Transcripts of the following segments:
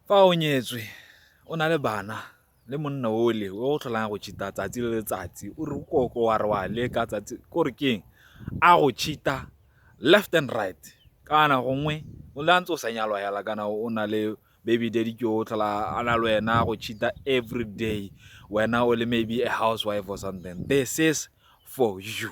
Fa o nyetswe o na le bana le monna ole o o tlholang go cheat-a tsatsi le letsatsi o re koko wa re wa leka tsatsi ko re keng a go cheat-a left and right kana gongwe o le a ntse o sa nyalwa fela kana o na le baby daddy ke o tlhola a na le wena go cheat-a everyday wena o le maybe a housewife or something this is for you.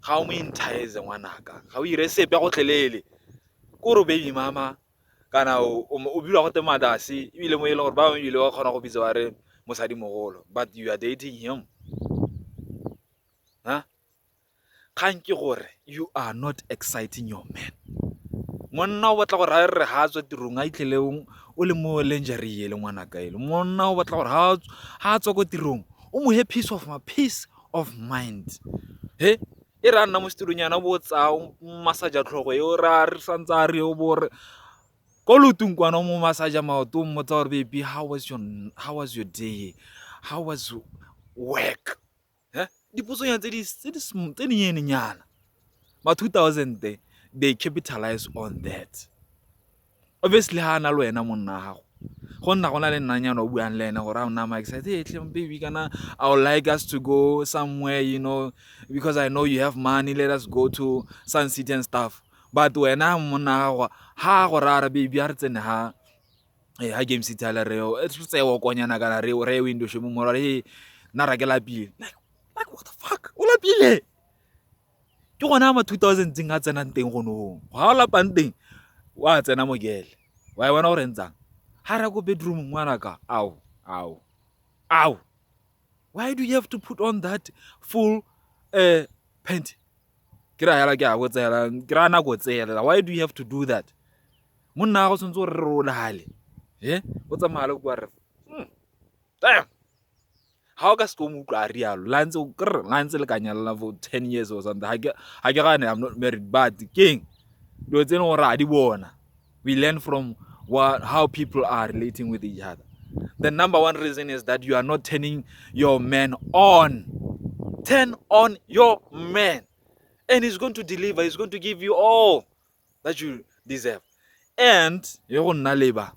ga o mo entize ngwanaka, ga o ire sepe gotlhelele ko re baby mama kana o bilwa gote madase ebile mo e leng gore ba bangwe ebile ba kgona go bitsa ba re mosadi mogolo but you are dating him ha kgang ke gore you are not exciting your man monna o batla gore a re ga a tswa tirong a itlhele o le mo lingerie le ngwanaka ele monna o batla gore ga a tswa ko tirong o mo he piece of my piece of mind he e re a nna mo setulong yana bo tsayang masaja tlhogo e o ra re santse a re o bo re ko lotong kwana mo masaja maoto o mmotsa gore baby how was your how was your day how was work he dipotsonyana tse di tse di tse di nyenyana ma 2000 they capitalize on that obviously ha ana le wena monna wa gago go nna go na le nnanyana o buang le ene gore a o nna maexcite hey tlem baby kana i would like us to go somewhere you know because i know you have money let us go to sun city and stuff but wena monna gago ha go rara baby a re tsene ha e ha game city ala re e re tsewa konyana kana re re window shemo mora he na ra ke lapile like what the fuck o lapile ke gone a ma two thousand tseng a tsenang teng go nong go ga o lapang teng o a tsena mokele wa e bona gore ntsang ga re ko bedroom ngwana ka ao ao ao why do you have to put on that full uh, pant ke ra yala ke a botsela ke ra nako tsela why do you have to do that monna go tshwanetse gore re rolale e o tsamaya le kwa re hmm, ga o ka se tlo mo utlwa a rialo la ntse kr la ntse le ka nyalela for ten years or something ga ke gane i'm not married but keng dilo tse e leng gore a di bona we learn from what, how people are relating with each other the number one reason is that you are not turning your man on turn on your man and he's going to deliver he's going to give you all that you deserve and e go nna leba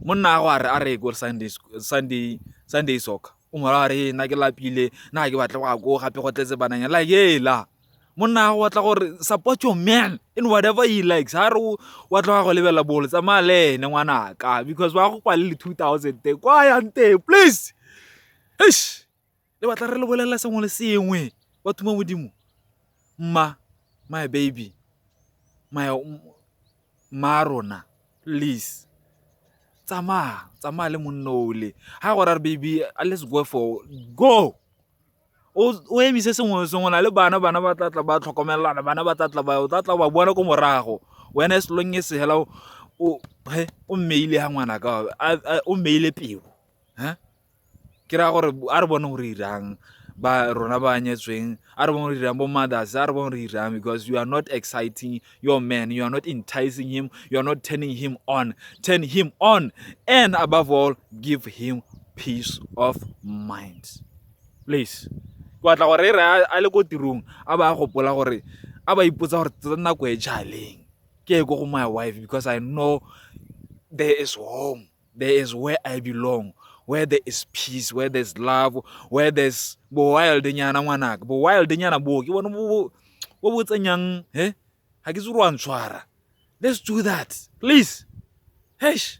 monna a go a re a re ko sunday sunday sunday soccer o mora a re na ke lapile na ke batla go a ko gape go tletse bananya like ela monna a go batla gore support your man in whatever he likes ha re wa tloga go lebela bolo tsamaya le ene ngwanaka because wa go kwa le le 2000 te kwa yang teng please eish le batla re le bolelela sengwe le sengwe ba thuma modimo mma my baby my mma rona please tsamaya tsamaya le monno ole ha go ra re baby let's go for go o emise sengwe le sengwe na le bana bana ba tlatla ba tlhokomelelana bana ba tlatla ba o tlatla ba bona ko morago wena e selong e segela o mmeile ha ngwana ka o mmeile peo ke raya gore a re bone gore irang ba rona ba nyetsweng a re bone gore irang bo mothers a re bone gore irang because you are not exciting your man you are not enticing him you are not turning him on turn him on and above all give him peace of mind please ke batla gore e re a le ko tirong a ba a gopola gore a ba ipotsa gore tsa nako e jaleng ke ye ko go my wife because i know there is home there is where i belong where there is peace where there is love where there is bo-wild nyana ngwanaka bo-wild nyana boo ke bone bo bo tsenyang he eh? ga ke tse go a ntshwara let's do that please hesh